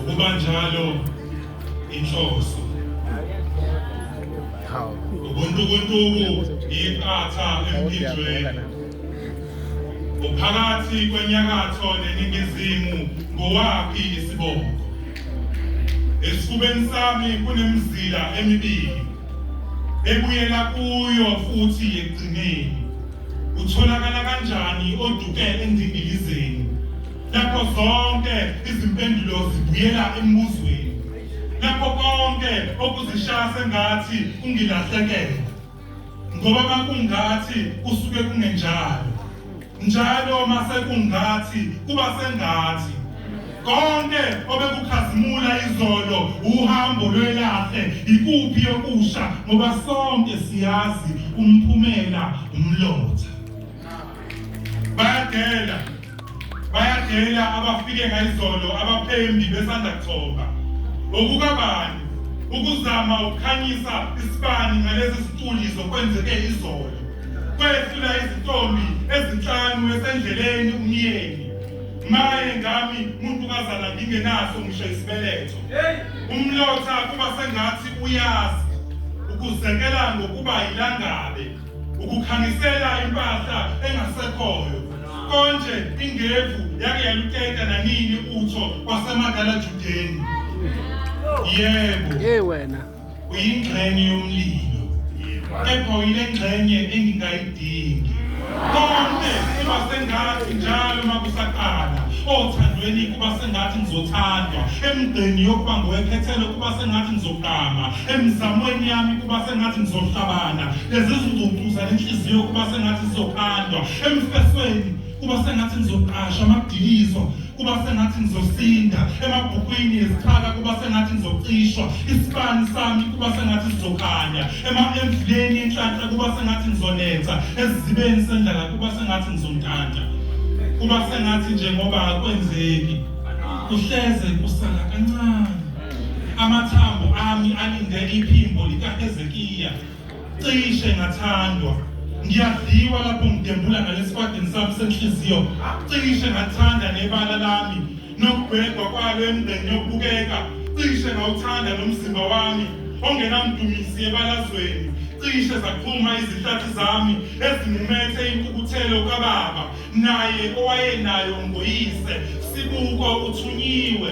Ukuba njalo inhloso ubuntukuntuku iqatha emphinjweni uphakathi kwenyakatho neningizimu ngowaphi isibongo esifubeni sami kunemizila emibili ebuyela kuyo futhi ekugcineni utholakala kanjani oduke endingilizeni Lapho zonke izimpendulo zibuyela embuzweni. Lapho konke okuzishaya sengathi ungilahlekela. Ngoba makungathi kusuke kungenjalo. Njalo masekungathi kuba sengathi konke obekukhazimula izolo uhambo lwelahle ikuphi yokusha ngoba sonke siyazi umphumela umlotha bayadela bayadela abafike ngayizolo abaphembi besanda kuthoba okukabani ukuzama ukukhanyisa isibani ngalezi ziculi zokwenzeke izolo kwehlula izintombi ezinhlanu esendleleni umyeni maye ngami muntu kazana ngingenaso ngisho isibeletho umlotha kuba sengathi uyazi ukuzekela ngokuba yilangabe ukukhangisela impahla engasekhoyo konje ingevu yake yaluteta nanini utho kwasemadala judeni yebo hey wena uyingxenye yomlilo kepha uyile ngxenye engingayidingi konke iba sengathi njalo uma kusaqala othandweni kuba sengathi ngizothandwa emgqeni yokuba ngowekhethelo kuba sengathi ngizogqama emizamweni yami kuba sengathi ngizohlabana lezi zingcucu zalenhliziyo kuba sengathi zizokhandwa emfesweni kuba sengathi ngizoqasha amadiliso kuba sengathi ngizosinda emabhukwini ezichaka kuba sengathi ngizocishwa isibani sami kuba sengathi sizokhanya emamvuleni enhlanhla kuba sengathi ngizonetha esizibeni sendlala kuba sengathi ngizontanta kuba sengathi njengoba akwenzeki kuhleze kusala kancane Amathambo ami alinde iphimbo likaHezekiya. Cishe ngathandwa. Ngiyadliwa lapho ngidembula ngalesikwatini sami senhliziyo. Cishe ngathanda nebala lami nokubhekwa kwalo emgqeni yokubukeka. Cishe ngawuthanda nomzimba wami ongenamdumisi ebalazweni. Cishe zaqhuma izihlathi zami ezimumethe inkukuthelo kababa naye owayenayo ngoyise. Sibuko uthunyiwe.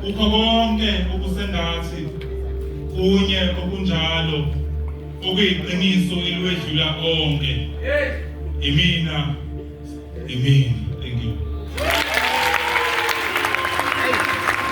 Kukho konke okusengathi kunye okunjalo okuyiqiniso elwedlula onke. Imina, imina.